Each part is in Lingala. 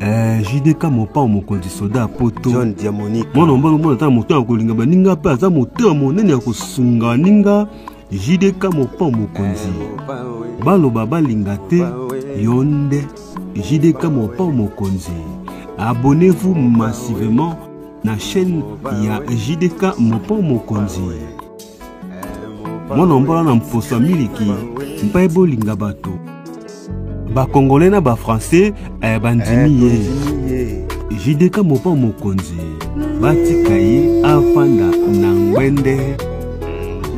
Eh, JDK mopao mokonzi soda ya poto John Diamonique mwana mobali omona ata na moto ya kolinga baninga mpe aza moto ya monene ya kosunga baninga JDK mopao mokonzi baloba balinga te yo nde JDK mopao mokonzi abonnez-vous massivement na chaîne ya JDK mopao mokonzi mwana mbola na mposo ya miliki mpe bolinga bato bakongole na bafrançais eh, bandimi ye eh, jideka mopa mokonzi batika ye afanda na ngwende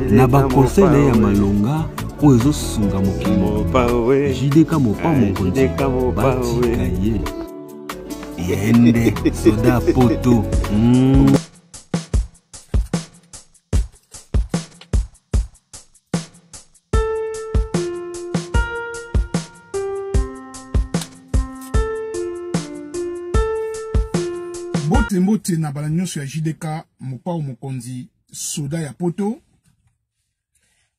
na bakonsei na ye ya malonga oyo ezosunga mokili mobimba jideka mopa eh, mokonzi batika ye yende soda poto mm. mbote mbote na bala nyonso ya jdk mopao mokonzi soda ya poto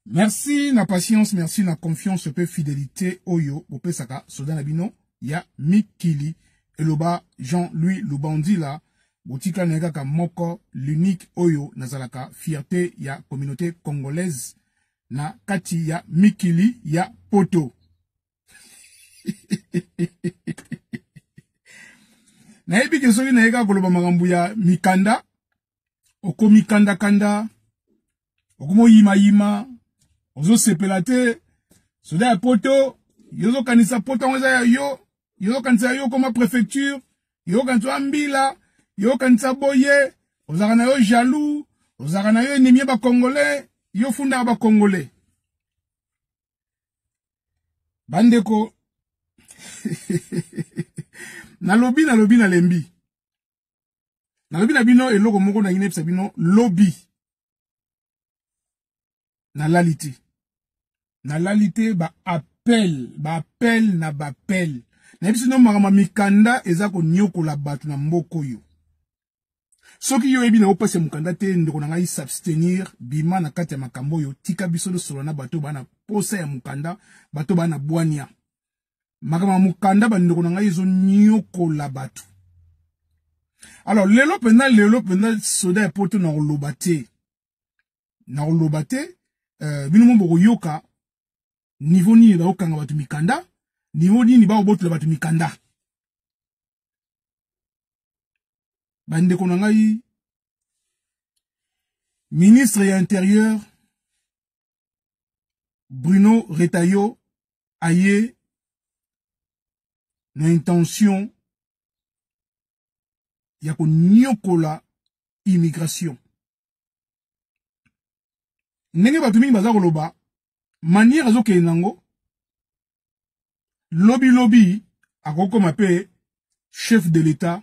merci na patience merci na confiance mpe fidelité oyo bopesaka soda na bino ya mikili eloba jean-louis lubandila Botika naye kaka moko l'unique oyo nazalaka fierte ya communauté congolaise na kati ya mikili ya poto nayebi ke soki naye kaka koloba makambo ya mikanda okomikandakanda okoma oyimayima ozosepela te soda ya poto yo ozokanisa poto yango eza ya yo yo ozokanisa yo okoma préfecture yo okanisa oya mbila yo okanisa boye ozalaka na yo jaloux ozalaka na yo enemi ya bacongolais yo ofundaka bacongolais bandeko nalobi nalobi nalembi nalobi na bino eloko moko na inepsa bino lobi nalali te nalali te ba appel ba appel na ba appel na biso no makambo mikanda eza konyokola bato na mboka oyo soki yo oyebi na opesa mokanda te ndeko na ngai s'abstenir bima na kati ya makambo oyo tika biso tosolola na bato bana posa ya mokanda bato bana bwania makambo ya mokanda bandeko na ngai ezoniokola bato alors lelo mpenza lelo mpenza soda ya poto na koloba te na koloba te euh, bino mo bokoyoka niveau nini bakokanga bato mikanda niveau nini bakobotola bato mikanda bandeko na ngai ministre ya interieur Bruno Retayo aye na intention ya konyokola immigration ndenge bato mingi baza koloba manière azokende nango lobilobi akokoma mpe chef de l'etat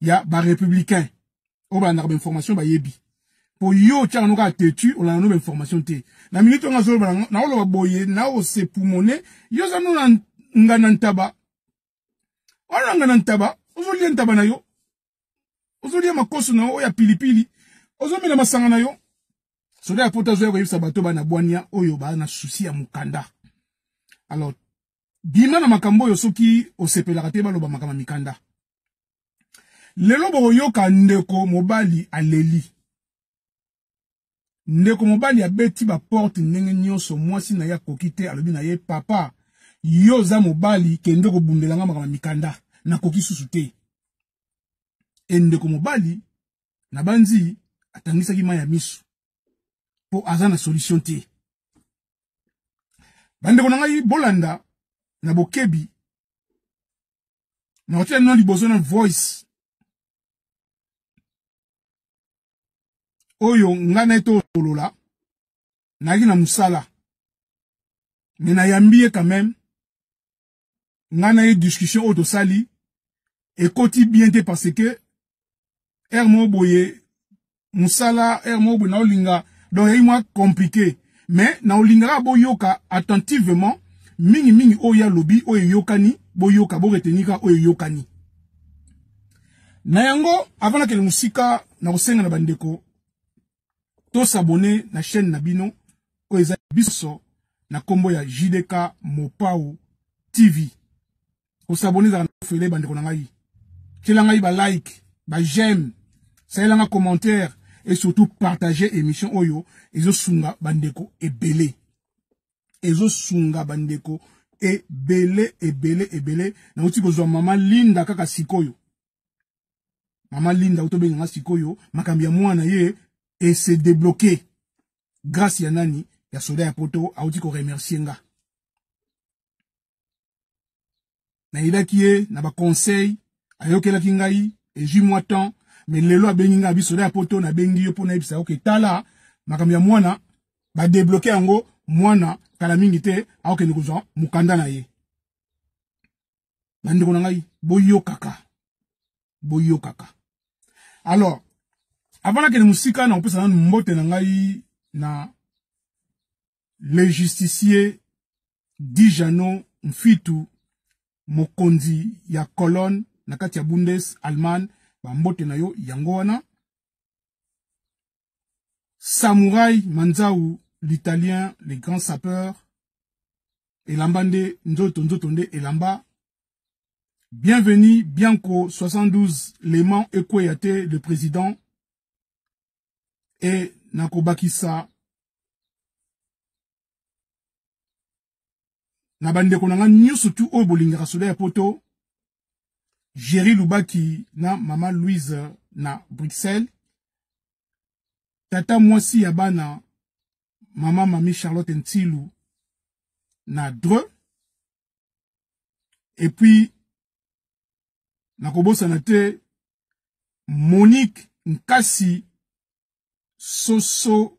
ya ba républicain oyo balandaka ba information bayebi po yo otyaka noka atetu olanda no ba information te na minute yango azoloba naoloba boye naosepumone yo oza no na ngana ntaba wana na ngana ntaba ozolia ntaba na yo ozolia makoso na yo oyo ya pilipili ozomela masanga na yo soda ya poto azoya koyebisa bato bana bwania oyo baa na susi ya mokanda alors bima na makambo oyo soki osepelaka te baloba makama mikanda lelo bokoyoka ndeko mobali aleli ndeko mobali abeti baporte ndenge nyonso mwasi na ye akoki te alobi na ye papa yo oza mobali kende kobundela nga makama mikanda nakoki susu te e ndeko mobali nabanzi atangisaki mai ya miso mpo aza na solution te bandeko na ngai bolanda na bokebi na kotia nino liboso na voice oyo ngai na ye tokolola nayaki na mosala me nayambi ye quand même ngai na ye discussion oyo tosali ekoti bien te parce que heure moko boye mosala heure moko boye naolinga donc yai mwa compliqué mais naolingaka boyoka attentivement mingimingi oyo ye alobi oyo eyokani boyoka boretenika oyo eyokani na yango avant nakende mosika nakosenga na bandeko To s'abonner na chaîne na bino oyo eza biso na kombo ya JDK Mopao TV. Ko s'abonner za fele bande ko na ngai. Tiela ngai ba like, ba j'aime, salela nga commentaire et surtout partager émission oyo ezo sunga bandeko ebele. Ezo sunga bandeko ebele ebele ebele na uti kozwa mama Linda kaka sikoyo. mama linda otobenga nga sikoyo makambo ya mwana ye et se débloquer grâce ya nani ya soda ya poto auti ko remercier nga nayebaki ye na baconseil ayokelaki ngai ezwi mwa temps mais lelo abengi ngai abi soda ya poto nabengi yo mpo nayebisa yo ke tala makambo ya mwana badebloke yango mwana kala mingi te akokende kozwa mokanda na ye bandeko na ngai boyokaka boyokaka alors avant nakende mosika nakopesa nanu mbote na ngai na le justicier dijano mfitu mokonzi ya colonne na kati ya bundes allemagne bambote na yo yango wana Samurai Manzau, l'italien, le grand sapeur, elamba nde nzoto nzoto nde elamba bienvenue bianco 72 leman ekweya te le président e nakobakisa na bandeko na nga nyonso tu oyo bolingaka soda ya poto Jerry Lubaki na mama Louise na Bruxelles tata mwasi ya bana mama mami Charlotte Ntilu na Dreux et puis nakobosana te Monique Nkasi Soso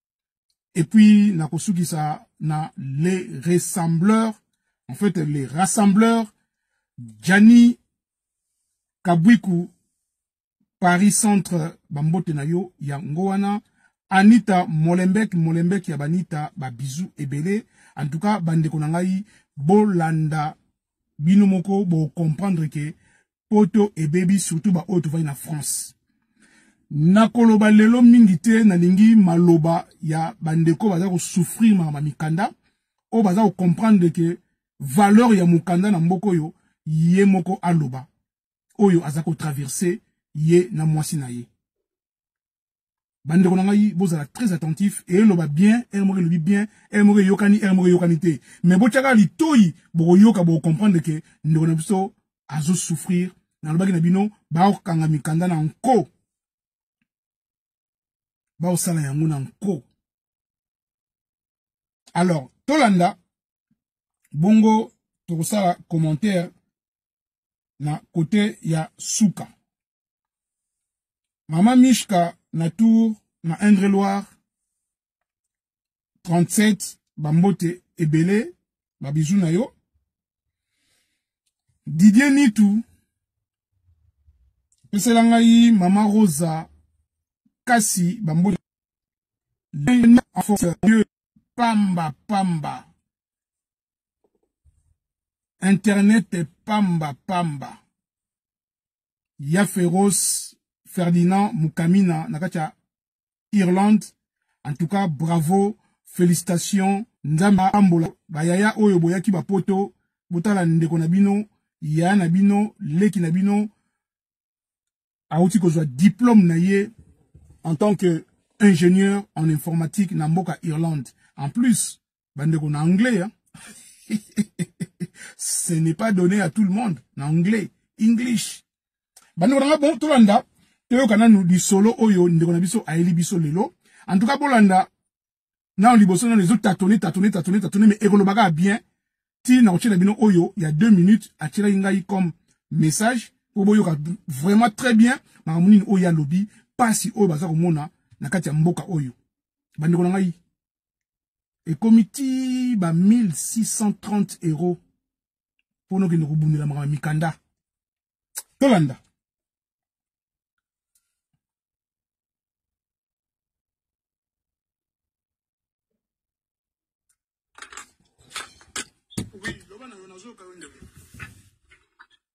et puis na kosukisa na les ressembleurs en fait les rassembleurs Gianni Kabwiku Paris Centre bambote na yo yango wana Anita Molembek Molembek ya Banita ba bisous ebele en tout cas bandeko na ngai bolanda bino moko bo comprendre que poto ebebi surtout ba oyo tovandi na France nakoloba lelo mingi te nalingi maloba ya bandeko baza kosouffrir makama mikanda oyo baza kocomprendre ke valeur ya mokanda na mboka oyo ye moko aloba oyo aza kotraverse ye na mwasi na ye bandeko na ngai bozala très attentif eloba bien ere moko elobi bien ere moko eyokani ere moko eyokani te mais botyaka litoi bokoyoka bokokomprendre ke ndeko na biso azosouffrir nalobaki na bino bakokanga mikanda na nko bakosala yango na nko alors tolanda bongo tokosala commentaire na kote ya suka Mama Mishka na tour na Indre-Loire 37 bambote ebele babizu na yo Didier Nitu pesela ngai mama Rosa kasi bambote en force Dieu pamba pamba internet pamba pamba ya Feroce Ferdinand Mukamina na kati ya Irlande. En tout cas, bravo, félicitations. Nzambe ambola bayaya oyo boyaki bapoto botala ndeko na bino yaya na bino leki na bino auti kozwa diplôme na ye en tant que ingénieur en informatique na mboka Irlande. En plus, bandeko na anglais hein? ce n'est pas donné à tout le monde na anglais english bandeko na nga bon tolanda toyoka nanu lisolo oyo ndeko na biso ayeli biso lelo en tout cas bolanda nano liboso nano ezotatone tatone tatone tatone me ekolobaka ya bien ti nakotyela bino oyo ya deux minutes atyelaki ngai comme message mpo boyoka vraiment très bien makambo nini oyo ye alobi mpasi oyo baza komona na kati ya mboka oyo bandeko na ngai ekomi ti ba 1630 euros mpo nokende kobundela makambo mikanda tolanda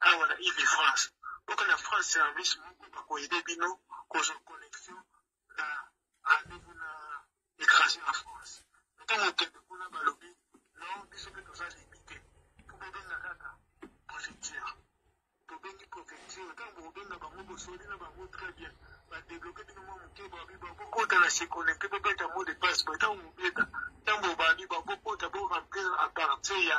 awa na ile de france oka na france service moko bakoyede bino kozwa connexion na rendez-vous na étranger na france ntango okende kuna balobi non biso mpe toza limite mpo bobenga kaka préfecture tobengi préfecture ntango bokobenga bango bosoli na bango très bien badebloke bino mwa moke babi bakokota na seconnecte bobeta mot de passe bo ntango bobeta ntango bobandi bakokota bo remplir à partir ya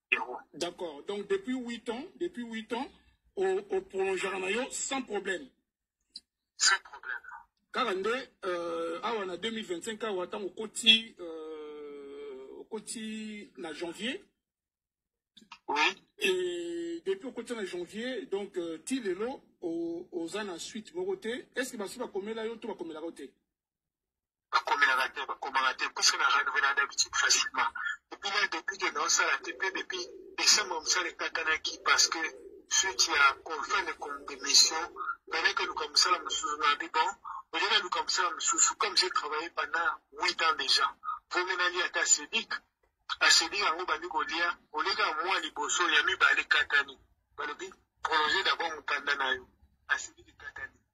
zero. D'accord. Donc depuis 8 ans, depuis 8 ans, au, au prolongera na yo sans problème. Sans problème. Kaka nde euh, awa na 2025 awa ntango okoti euh, okoti na janvier Oui. et depuis okoti na janvier donc euh, ti lelo o- oza na suite moko te est ce que basi bakomela yo to bakomelaka yo te bakomelaka te bakomaka te puisque na renouvela d'habitude facilement epuis là depuis que naosala te mpe depuis décembre mosala ekatanaki parce que suite ya confin de condemission nalaki oluka mosala mosusu na bi bon olie naluka mosala mosusu comme j'ai travaillé pendant huit ans déjà vomi nalia ata sedik asedik yango bandi kolia oleka mwa liboso ya mibale ekatani balobi prolonger d'abord mokanda na yo asedik ekatani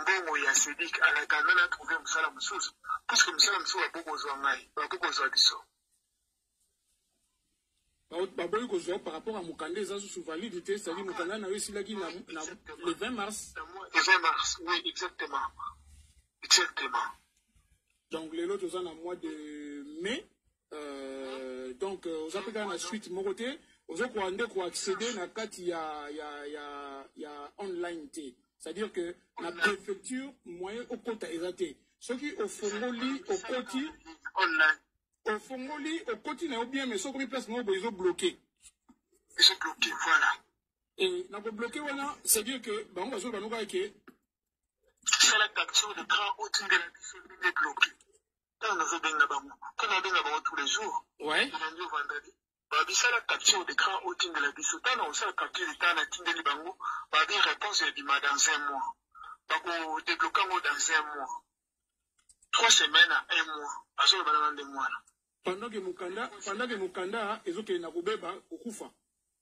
mbongo ya sedik alakanda na trouve mosala mosusu puiske mosala mosusu bakoki kozwa ngai bakoki kozwa biso baboyi kozwa par rapport ya mokanda eza susu valide te cetadi mokanda na yo esilaki na le 20 mars le 20 mars oui exactement exactement donc lelo toza na mois de mai Euh, donc euh, oza mpe kaka na suite moko te ozokoka nde koaccéder na kati ya, ya, ya, ya online te c'est-à-dire que na préfecture moyen okota eza te soki ofongoli okoti ofongoli okoti na yo bien mais soki okomi place moko boye ezobloke ezobloke voilà et na kobloke wana c'est-à-dire que bango bazoloba nokaka ke sala capture de grand otindela biso nde bloke ntango nazobenga bango mpo nabenga bango tous les jours lundi vendredi babisala capture d'écran otindela biso ntango nakosala capture d'écran natindeli bango babi réponse ebima dans un mois bakodebloke yango dans un mois trois semaines à un mois bazoloba nanga nde mwana pendant que mokanda ezokende na kobeba kokufa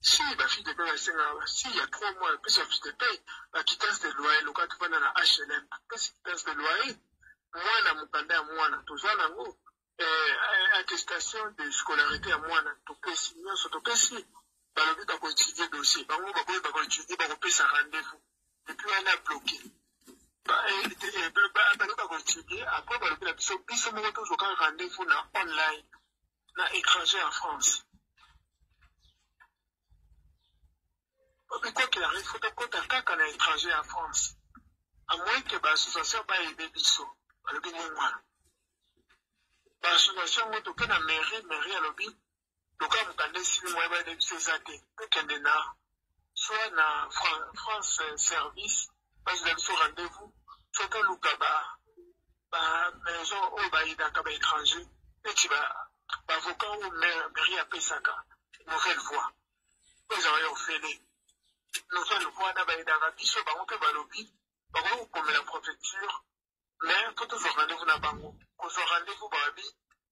si ba fille de paye basengaka ba si ya trois mois epesi ba fille de paye ba quittance de loyer loka tofanda na hlm apesi quittance de loyer mwana mokanda ya mwana toza nango eh, eh, attestation de scolarité ya mwana topesi nyonso topesi balobi bakoétudie dossier bango bakoyi bakoétudie bakopesa rendez-vous epuis wana bloke balobi bakoétudie apres balobi na biso biso moko tozwaka rendez-vous na online na étranger en France. Obikotela il faut tokota kaka na étranger en France. À moins que ba association ba aider biso. Alobi ni mwana. Ba association ngo toke na mairie, mairie alobi toka mukanda esili moyen ba aider biso eza te. Tokende na soit na France Service, basi na biso rendez-vous, soit toluka ba ba maison oyo bayinaka ba étranger neti ba bavoka oyo mairie apesaka nouvelle voix oyo ezala yo ofele nouvelle voix na bayinaka biso bango mpe balobi bakoki kokomela prefecture mais mpo tozwa rendez-vous na bango kozwa rendez-vous babi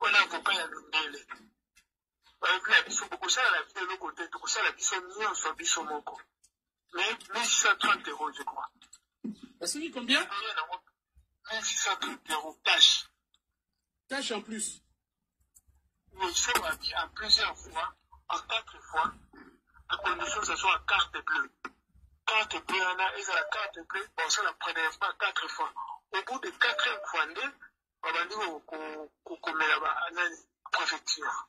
wana akopa ya mindele balobi na biso bokosala na biso eloko te tokosala biso nyonso biso moko mais 1630 euro je crois esoki combien 1630 euro cash cash en plus monsieur wabi en plusieurs fois en quatre fois à condition que ce soit carte bleue carte bleue wana ezala carte bleue basala prélèvement quatre fois au bout de quatrième fois nde babandi kokomela banani préfecture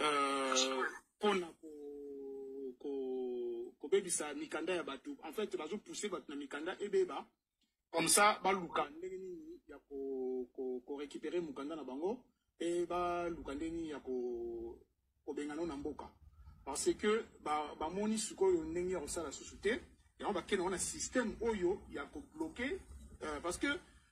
euh, pona ko ko kobebisa mikanda ya bato en fait bazo pousser bato na mikanda ebeba comme ça baluka ndenge nini ya ko ko, ko récupérer mukanda na bango et baluka ndenge nini ya ko kobengana na mboka parce que bamoni ba sikoyo ndenge ya kosala susu te yango bakenda wana système oyo ya kobloke euh, parce que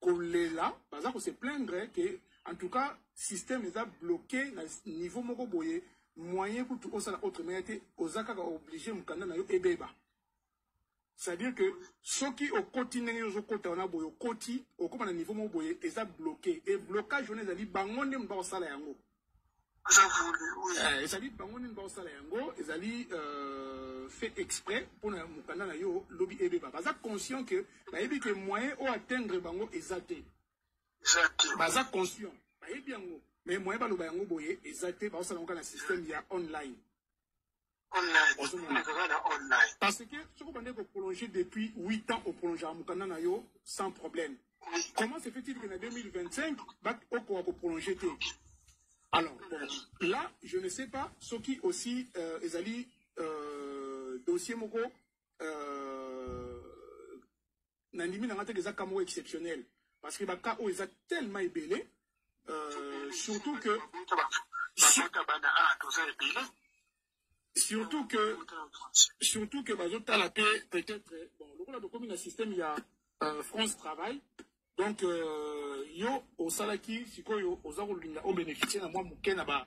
kolela baza kose plaindre ke en tout cas système eza bloqué na niveau moko boye moyen kutu osala autre maya te oza kaka oblige mokanda na yo ebeba c'est-à-dire que soki okoti ndenge ozokota wana boye okoti okóma na niveau moko boye eza bloqué e blocage wana ezali bango nde moto bakosala yango oza vulu eh, ezali bango nini baosala yango ezali euh, fait exprès mpo na mokanda na yo lobi ebeba baza conscient que bayebi ke moyen o atteindre bango eza te baza conscient bayebi yango mais moyen baloba yango boye eza te baosala yango kaka na système ya online online ozomona kaka na online parce que soki obandaki koprolonge depuis 8 ans oprolongaka mokanda na yo sans problème comment se fait-il que na 2025 okoka koprolonge te alors bon, là je ne sais pas soki aussi euh, ezali euh, dossier moko euh, na ndimi na nga te eza cas moko exceptionnel parce que ba cas oyo eza tellement ebele euh, surtout que surtout que surtout que bazotala mpe peut-être bon lokola tokomi na système ya euh, france travail donc euh, yo osalaki sikoyo oza kolinga obénéficie na mwa moke na ba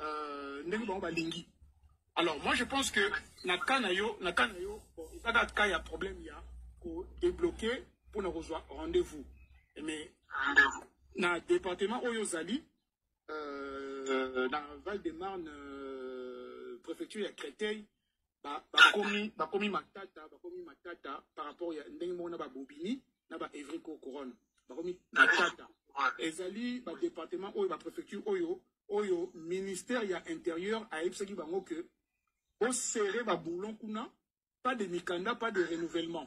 euh, ndenge bango balingi alors moi je pense que na cas na yo na cas na yo ezaka cas ya problème ya kodébloquer mpo na kozwa rendez-vous mais na département oyo ozali euh, na val de marne euh, préfecture ya créteil bakomi ba bakomi matata bakomi matata par rapport ya ndenge moko na babobini na ba evrico couronne bakomi matata ezali badepartement oyo baprefecture oyo oyo ministère ya intérieur ayebisaki bango ke boserre baboulon kuna pas de mikanda pas de renouvellement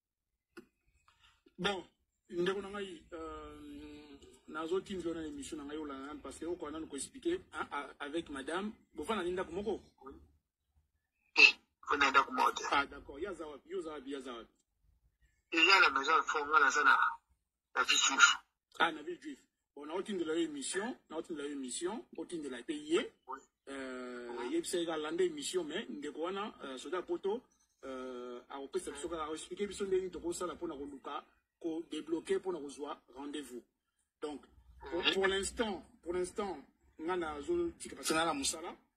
bon ndeko na ngai euh, nazotindi yo na émission na ngai olanda nanu parce que okoka nanu koexplike avec madame bofanda ni ndako moko fanda eh, ndako moko te ah d'accord ye aza wapi yo oza wapi ye aza wapi eza na maison fonga naza na na vie juif ah na vie juif bon naotindela yo émission naotindela yo émission otindela mpe ye euh, yebisa ye kalanda émission mais ndeko wana euh, soda poto euh, akopesa biso kaka aexplike biso ndenge tokosala mpo na koluka kodebloke mpo na kozwa rendez-vous donc pour l'instant pour l'instant nga nazotika parce que nga na mosala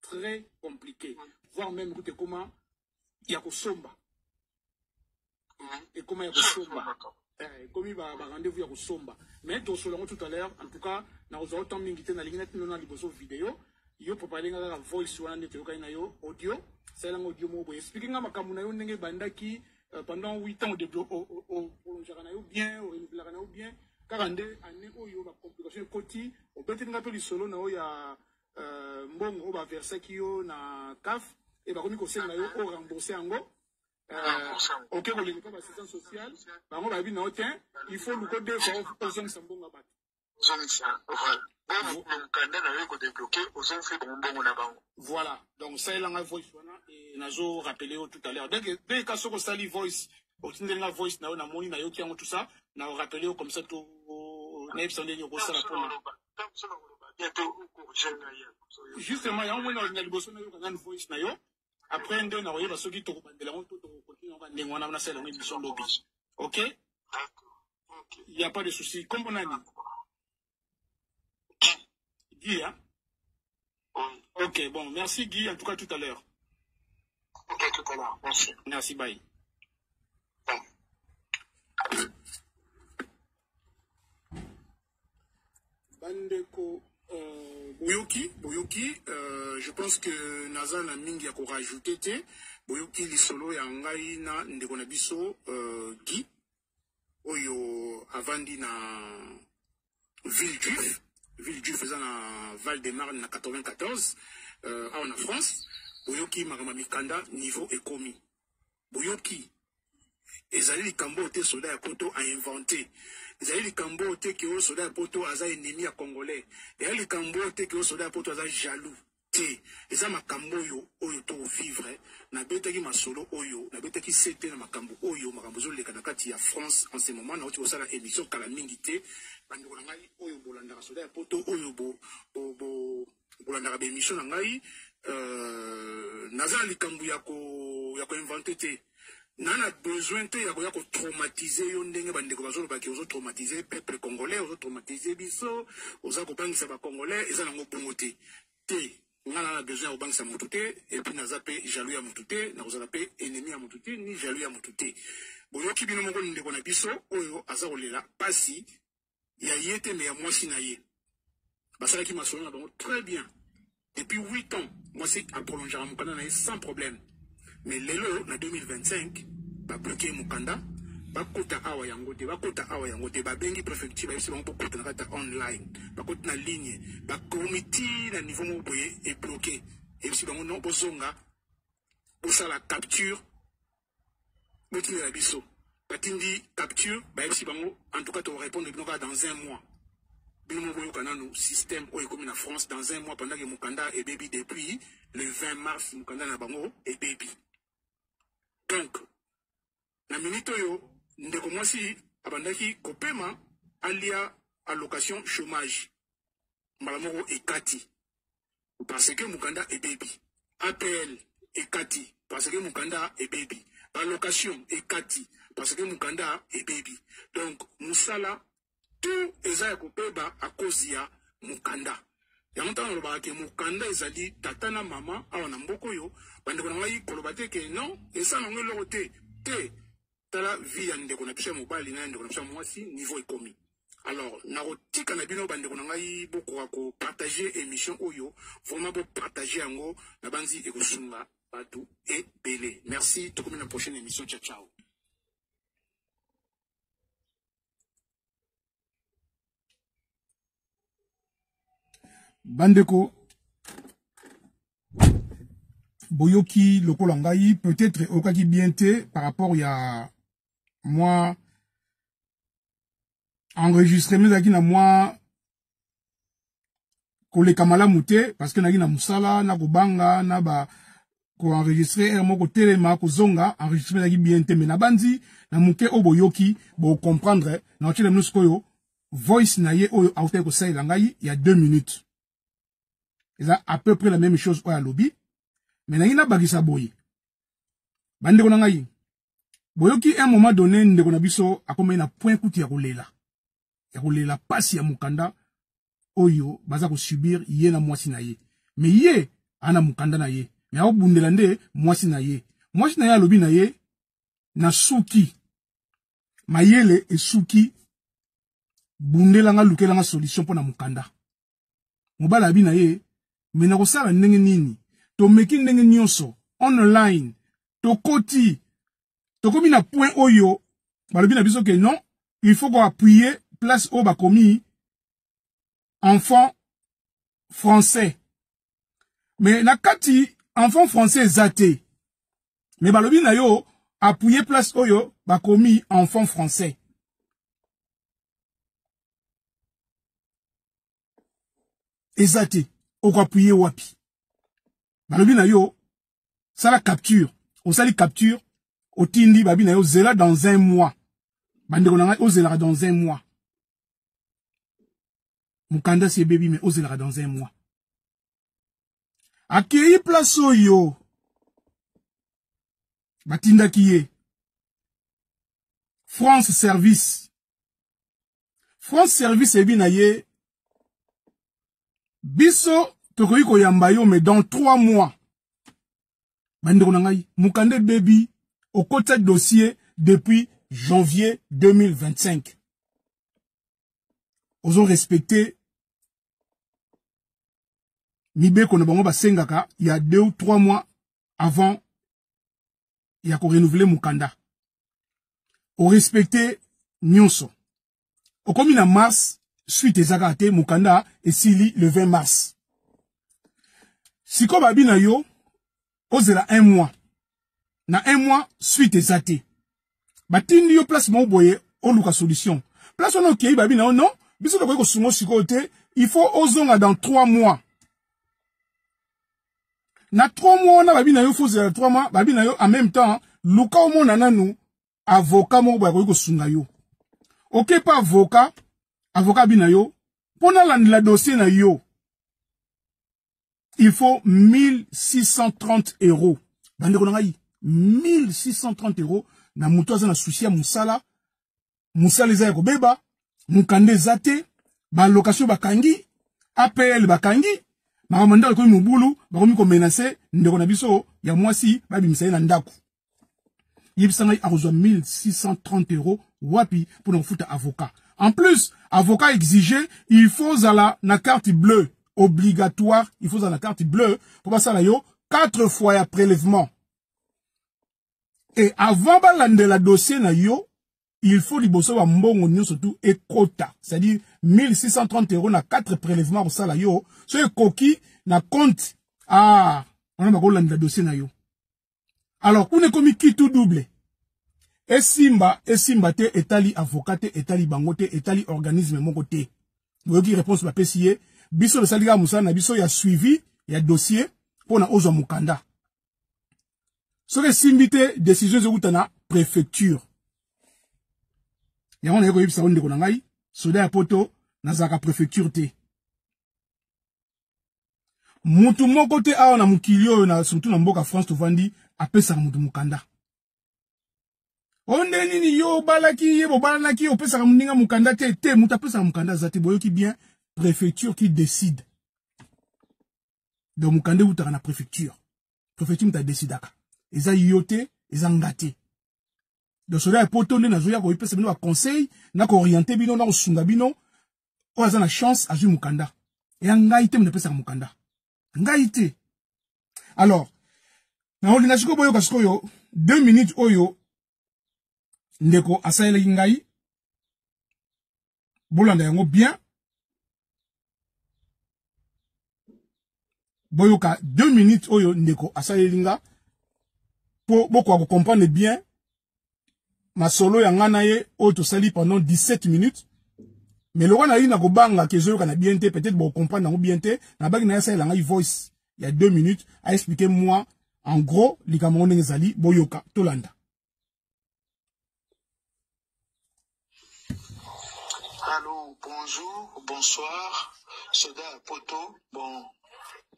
très compliqué voire même kutu ekoma ya kosomba ekoma ya kosomba eh, ekomi ba rendez-vous ya kosomba mais tosolo yango tout à l'heure en tout cas nakozwa yo temps mingi te nalingi natino na liboso video yo prepare nga kaka voice wana nde toyokani na yo audio salela nga audio moko boye explike nga makambo na yo ndenge ebandaki euh, pendant 8 ans olonjaka na yo bien orenouvelaka na yo bien kaka nde année oyo bacomplication ekoti obeteli nga mpe lisolo na yo ya euh, mbongo oyo baversaki yo na caf e bakomi kosenga yo o rembourse yango euh, oke koleka mpe bassistance sociale bango bayebi na yo te il faut luko deux fois ozongisa mbongo ya bato zongisa voilà bongo mokanda na yo ekodebloke ozongisi bango mbongo na bango voilà donc salela ngai voice wana nazo rappele yo tout à l'heure donc mpe ka soki osali voice otindeli nga voice na yo namoni nayoki yango tout ça na rappele yo comme ça to nayebisa ndenge okosala mpona justement yango moni na liboso nayoka nanu voice na yo après nde nakoyeba soki tokobandela yango to tokokontinue yango ndenge wana nasala yango émission lobi ok y a pas de souci kombo nani gia Ok, bon, merci Guy. En tout cas, tout à l'heure. Ok, tout à l'heure. Merci. Merci, bye. Bandeko euh, Boyoki, Boyoki, euh, je pense que Nazan a mingi à rajouter. Boyoki, l'isolo, ya ngai, na, ndeko na biso, euh, Guy. oyo avandi na ville juif ville juif eza na val de marne na 94 euh, awa na france boyoki makambo ya mikanda niveau ekomi boyoki ezali likambo oyo te soda ya poto ainvente ezali likambo oyo te keo soda ya poto aza ennemi ya congolais ezali likambo oyo te keo soda ya poto aza jaloux te eza makambo oyo oyo to vivre nabetaki masolo oyo nabetaki sete na makambo oyo makambo ezoleka na kati ya france en ce moment nauti kosala émission kala mingi te bandeko na ngai oyo bolandaka soda ya poto oyo bo, bo, bo, bolandaka baémission na ngai euh, naza na likambo ya koinvente te na na besoin te ya koya kotraumatize yo ndenge bandeko bazolobaki ozotraumatize peuple congolais ozotraumatize biso oza kobangisa bacongolais eza nango bongo te te nga na na besoin ya kobangisa motu te epuis naza mpe jaloux ya motu te nakozala mpe ennemi ya motu te ni jaloux ya motu te boyoki bino moko ndeko na biso oyo aza kolela mpasi ya ye te me ya mwasi na ye basalaki masolo na bango très bien depuis 8 ans mwasi aprolongeaka mokanda na ye sans problème mais lelo na 2025 babloke ye mokanda bakota awa yango te bakota awa yango te babengi préfecture bayebisi bango bokota na kati ya online bakoti na ligne bakomi ti na niveau moko boye ebloke eyebisi bango non bozonga bosala capture botinda na biso batindi capture bayebisi bango en tout cas tokorépondre bino kaka dans un mois bino moko boyoka nanu système oyo ekomi na france dans un mois pendant ke mokanda ebebi depuis le 20 mars mokanda na bango ebebi donc na minute oyo ndeko mwasi abandaki kopema alia allocation chômage mbala moko ekati parce que mukanda ebebi apl ekati parce que mukanda ebebi balocation ekati parce que mukanda ebebi donc mosala tout eza ya kobeba à cause ya mukanda yango ntango olobaka ke mokanda ezali tata na mama awa na mboka oyo bandeko na ngai koloba te ke non esala yango eloko te te tala vie ya ndeko na biso ya mobali na ya ndeko na biso ya mwasi niveau ekomi alors nakotika na bino bandeko na ngai bokoka kopartage émission oyo vraiment bopartage yango nabanzi ekosunga bato ebele merci tokomi na prochaine émission ciao ciao bandeko boyoki lokola ngai peut-être okaki bien te par rapport ya mwa enregistrement ezalaki na mwa koleka malamu te parce que naki na musala na kobanga na ba koenregistre heure moko telema kozonga enregistre ezalaki bien te me nabanzi na moke oyo boyoki bocomprendre na otyela bino sikoyo voice na ye oyo autaki kosalela ngai ya deux minutes eza à peu près la même chose oyo alobi me nangi nabakisa boye bandeko na ngai boyoki un moment donné ndeko na biso akomaki na point kutu ya kolela ya kolela pasi ya mukanda oyo baza ko subir ye na mwasi na ye me ye ana mukanda na ye me akobundela nde mwasi na ye mwasi na ye alobi na ye na suki mayele esuki bundelanga lukelanga solution mpo na mukanda mobali abi na ye me nakosala ndenge nini tomeki ndenge nyonso online tokoti tokomi na point oyo balobi na biso ke non il faut koappuye place oyo bakomi enfant français me na kati enfant français eza te me balobi na yo appuye place oyo bakomi enfant français eza te okoapuye wapi balobi na yo sala capture osali capture otindi babi na yo zela dans un mois bandeko na ngai ozelaka dans un mois mokanda si ebebi me ozelaka dans un mois akei place oyo batindaki ye france service France service ebi na ye biso tokoki koyamba yo mais dans trois mois bandeko na ngai mokanda ebebi okotya dossier depuis janvier 2025 ozo respecte mibeko na bango basengaka ya deux ou trois mois avant ya ko renouveler mukanda o respecter nyonso okomi na mars suite eza kaka te mukanda esili le 20 mars sikoyo babi na yo ozela un mois na un mois suite eza te batindi yo place moko boye oluka solution place wana okei babi na yo non biso tokoki kosunga sikoyo te il faut ozonga dans trois mois na 3 mois wana babi na yo faut zela 3 mois babi na yo en même temps luka omona nanu avocat moko boye akoki kosunga yo oke pa avocat avocat abi na yo mpo nalandela dossier na yo il faut 1630 euros bandeko na ngai 1630 euros na moto aza na susi ya mosala mosala eza ya kobeba mokanda eza te balokation bakangi apl bakangi makambo ndako ekomi mobulu bakomi komenase ndeko na biso ya mwasi babimisa ye na ndako yebisa ngai akozwa 1630 euro wapi mpo na kofuta avocat en plus avocat exige il faut ozala na carte bleue obligatoire il faut ozala na carte bleue mpo basala yo 4 fois ya prélèvement et avant balandela dossier na yo il faut liboso ba mbongo nyoso tout ekota c'est-à-dire 1630 euros na 4 prélèvements kosala yo so ekoki na compte ah on a bakolandela dossier na yo alors kuna ekomi kitu double esimba esimba te etali avocat te etali bango te etali organisme moko te boyoki réponse bapesi ye biso tosalika mosala na biso ya suivi ya dossier mpo na ozwa mokanda soki esimbi te décision ezowuta na préfecture yango naye koyebisa yo ndeko na ngai soda ya poto nazalaka préfecture te mutu moko te awa na mokili oyo na surtout na mboka france tovandi apesaka mutu mokanda o nde nini yo obalaki ye bobalanaki opesaka moninga mokanda te te mutu apesaka mokanda aza te boyoki bien préfecture qui décide donc mokanda ewutaka na préfecture prophetie moto adesidaka eza yo te eza nga te donc soda ya poto nde nazoya koyipesa bino baconseil na kooriente bino na kosunga bino oyo aza na chance azwi mokanda eya ngai te moto apesaka mokanda ngai te alors nakolinga sikoyo boyoka sikoyo deux minutes oyo ndeko asalelaki ngai bolanda yango bien boyoka deux minutes oyo ndeko asaleli nga mpo bokoka kocomprendre bien masolo ya ngai na ye oyo tosali pendant 17 minutes me lokola nayei na kobanga ke ezoyokana bien te peut-être bokocomprendre yango bien te nabaki na ye asalela ngai voice ya deux minutes aexplike moi en gros likambo yango ndenge ezali boyoka tolanda Allô, bonjour, bonsoir, soda ya poto. Bon,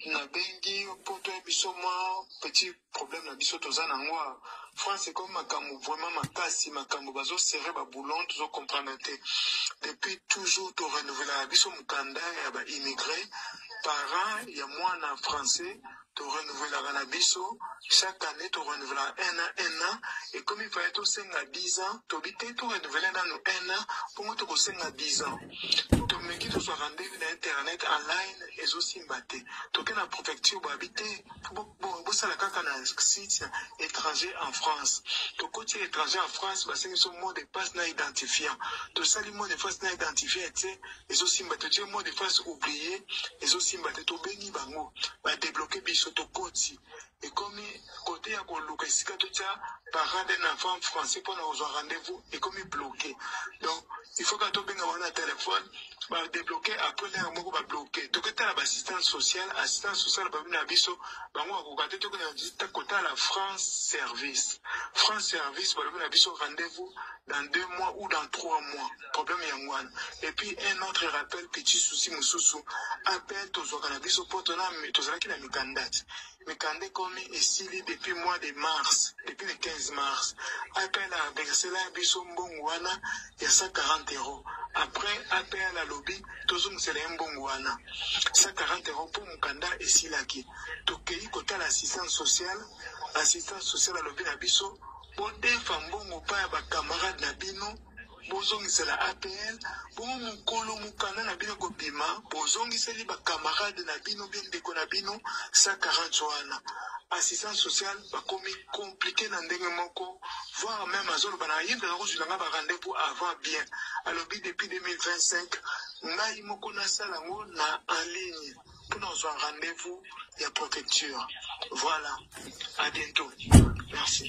nabengi yo poto ya biso mwa petit problème na biso toza na yango awa. France ekomi makambo vraiment makasi, makambo bazo serre ba boulon tozo comprendre te. Depuis toujours to renouvelaka biso mokanda ya ba immigrés, parents ya mwana français to renouvelaka na biso chaque année to renouvelaka un an un an ekomi paye tosenga 10 ans tobi te to renouvele nanu un an mpongo tokosenga 10 ans tomeki tozwa rendez-vous na internet online ezosimba te toke na prefecture babi te bosala kaka na site étranger en france tokoti étranger en france basengi biso mot de passe na identifiant tosali mot de passe na identifiant ete ezosimba te je mot de face oublie ezosimba te tobengi bango badebloke biso tokoti ekomi kote ya koluka esika totya parent d'un enfant français mpo na kozwa rendez-vous ekomi bloke donc il faut kaka tobenga bango na telefone badebloke après lere moko babloke toketala baassistance sociale assistance sociale babi na biso bango bakoka te tokenda kotala france service france service balobi na biso rendez-vous dans deux mois ou dans trois mois Problème yango wana et puis un autre rappel petit souci mosusu appel tozwaka na biso mpo tona tozalaki na mikanda ti mikanda ekomi esili depuis mois de mars depuis le 15 mars appel aversela biso mbongo wana ya 140 euros après apl alobi tozongisela ye mbongo wana 140 euros mpo mokanda esilaki tokei kotala assistance sociale assistance sociale alobi na biso bodefa mbongo mpa ya bacamarade na bino bozongisela apl bongo mokolo mokanda na bino kobima bozongiseli bakamarade na bino mpe ndeko na bino 140 wana assistance sociale bakomi komplike na ndenge moko voir meme azoloba na yinda na kozwila ngai barendez-vous avant bien alobi depuis 2025 ngai moko nasala yango na en ligne mpo nazwa rendez-vous ya protecture voilà à bientôt merci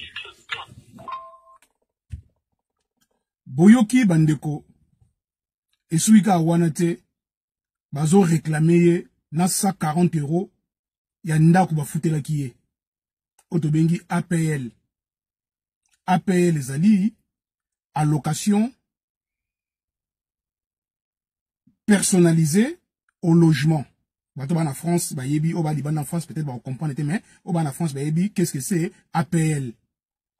boyoki bandeko esuki kaka wana te bazo reklame ye na 140 euro ya ndako bafutelaki ye oyo tobengi apl apl ezali allocation personnalisé au logement. Bato bana France bayebi au bas Liban en France peut-être ba comprendre te mais au bas na France bayebi qu'est-ce que c'est APL.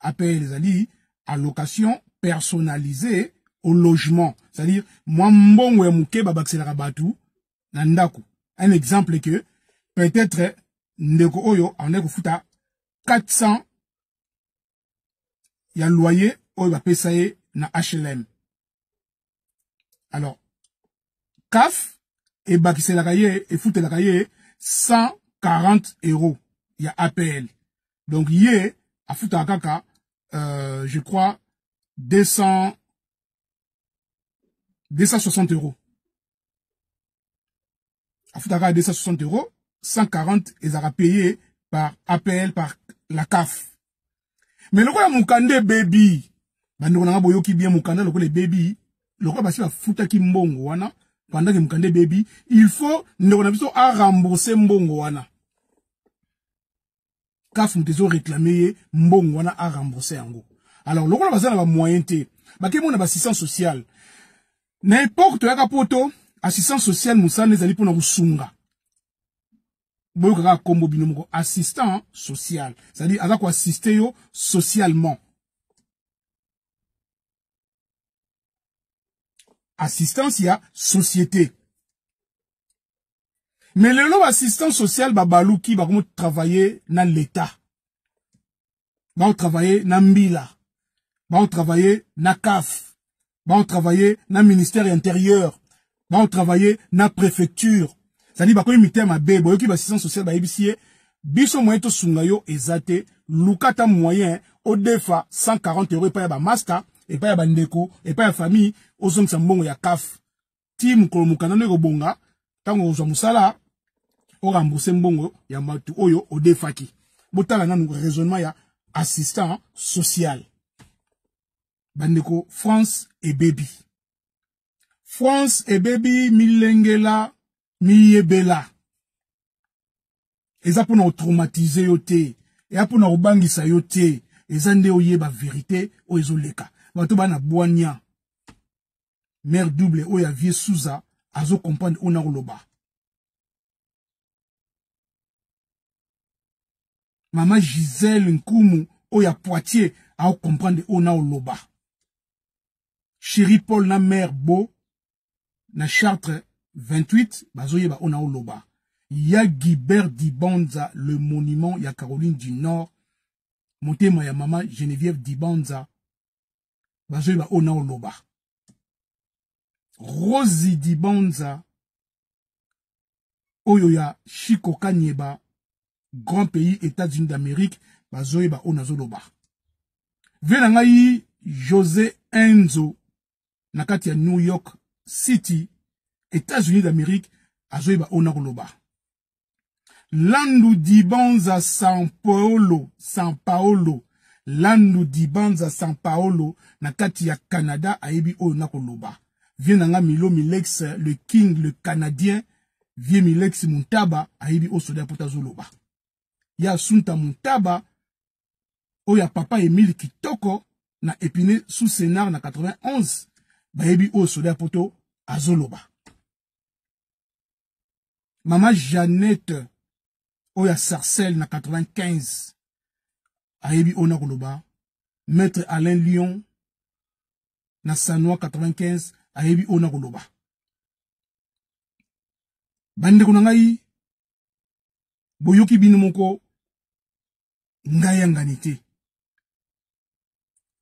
APL ezali allocation personnalisée au logement. C'est-à-dire moi mbongo ya muke ba bakselaka batu na ndaku. Un exemple que peut-être ndeko oyo en ko futa 400 ya loyer oyo bapesa ye na HLM alors CAF ebakiselaka ye efutelaka ye 140 euros ya APL donc ye afutaka kaka euh, je crois 200 260 euros afutaka 260 euros 140 ezalaka paye par apl par la caf mais lokola mokanda ebebi bandeko na nga boyoki bien mokanda lokola ebebi lokola basi bafutaki mbongo wana pendant que mokanda ebebi il faut ndeko na biso arembourse mbongo wana CAF moto ezo réclamer ye mbongo wana a rembourser yango. Alors lokola baza na ba moyen te, bake mona ba assistance sociale. Na époque toyaka poto, assistance sociale mosala ezali mpona kosunga boyoka kaka kombo bino moko assistant social c'est-à-dire aza koassiste yo socialement assistance ya société mais lelo assistant social babaluki bakomi travailler na l'etat baotravailler na mbila baotravailler na caf baotravailler na ministère ya intérieur baotravailler na préfecture zali bakomi mitema mabe boyoki bassistant social bayebisi ye biso moyen tosunga yo eza te luka ata moyen odefa 140 euro epai ya bamasta epai ya bandeko epai ya famille ozongisa mbongo ya caf ti mokolo mokanda no ekobonga ntango okozwa mosala orembourse mbongo ya bato oyo odefaki botala nanu raisonnement ya assistant social bandeko france ebebi france ebebi milengela miyebela eza mpona kotraumatize yo te eya mpona kobangisa yo te eza nde oyeba verite oyo ezoleka bato bana bwania mère double oyo ya vieux Souza azo comprendre oyo nakoloba mama Gisèle Nkumu oyo ya Poitiers ao comprendre oyo naoloba chéri Paul na mère Bo na Chartres 28 bazoyeba oyo naoloba ya Guibert Dibanza le monument ya Caroline du Nord motema ya mama Geneviève Dibanza bazoyeba oyo na oloba rosi dibanza oyo ya shiko kanyeba grand pays états-unis d'amérique bazoyeba oyo nazoloba vie na ngai josé enzo na kati ya new york city états-unis d'amérique azoyeba oyo nakoloba Landu Dibanza San Paolo, San Paolo. Landu Dibanza San Paolo na kati ya Canada ayebi oyo na koloba. Vieux nanga Milo Milex le king le canadien Vieux Milex Muntaba ayebi oyo soda pota zoloba. Ya Sunta Muntaba oyo ya papa Emile Kitoko na Epine sous Sénard na 91 bayebi oyo soda poto azoloba. mama jeannette oyo ya sarcelle na 95 ayebi oyo nakoloba maître alain lion na sanoi 95 ayebi oyo nakoloba bandeko na ngai boyoki bino moko ngai yangani te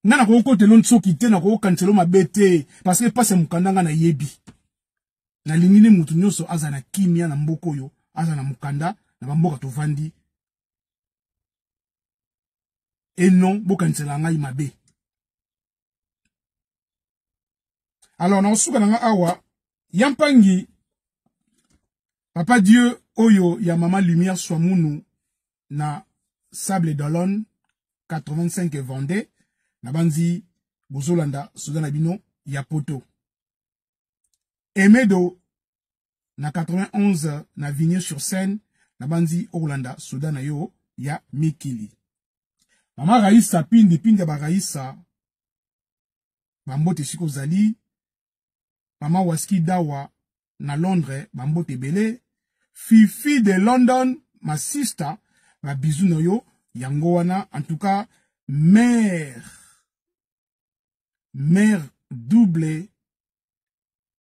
nga nakoki kotelo nsoki te nakoki kokanisa elo mabe te parce que mpasi ya mokanda nga nayebi nalingi nde moto nyonso aza na kimia na mboka oyo aza na mokanda na bamboka tovandi e non bokanisela ngai mabe alors nakosuka na nga awa ya mpangi papa dieu oyo ya mama lumière swamunu na sable d'olone 85 vendais na banzi bozolanda soda na bino ya poto emedo na 91 na vigne sur scène na banzi okolanda soda na yo ya mikili mama raisa pindi pindi ya baraisa bambote esika ozali mama waski dawa na londres bambote ebele fifi de london ma sister babizu na yo yango wana en tout cas mère mère double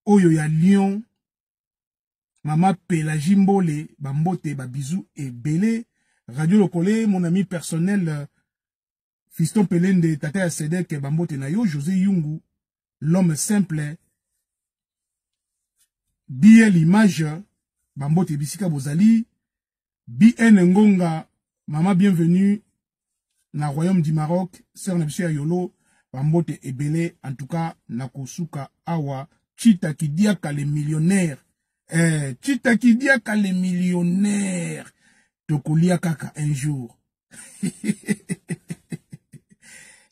oyo ya lyon mama pelagie mbole bambote babizu ebele radio lokole mon ami personnel Fiston Pelende, tata ya Sedek, bambote na yo, José Yungu, l'homme simple, BL Image, bambote bisika bozali, BN Ngonga, mama bienvenue, na royaume du Maroc, sœur na biso ya Yolo, bambote ebele, en tout cas, na kosuka awa, Chita Kidiaka le millionnaire, eh, Chita Kidiaka le millionnaire, tokolia kaka un jour,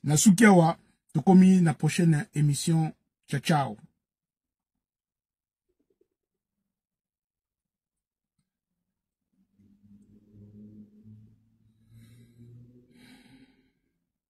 na suki awa tokomi na prochaine émission ciao ciao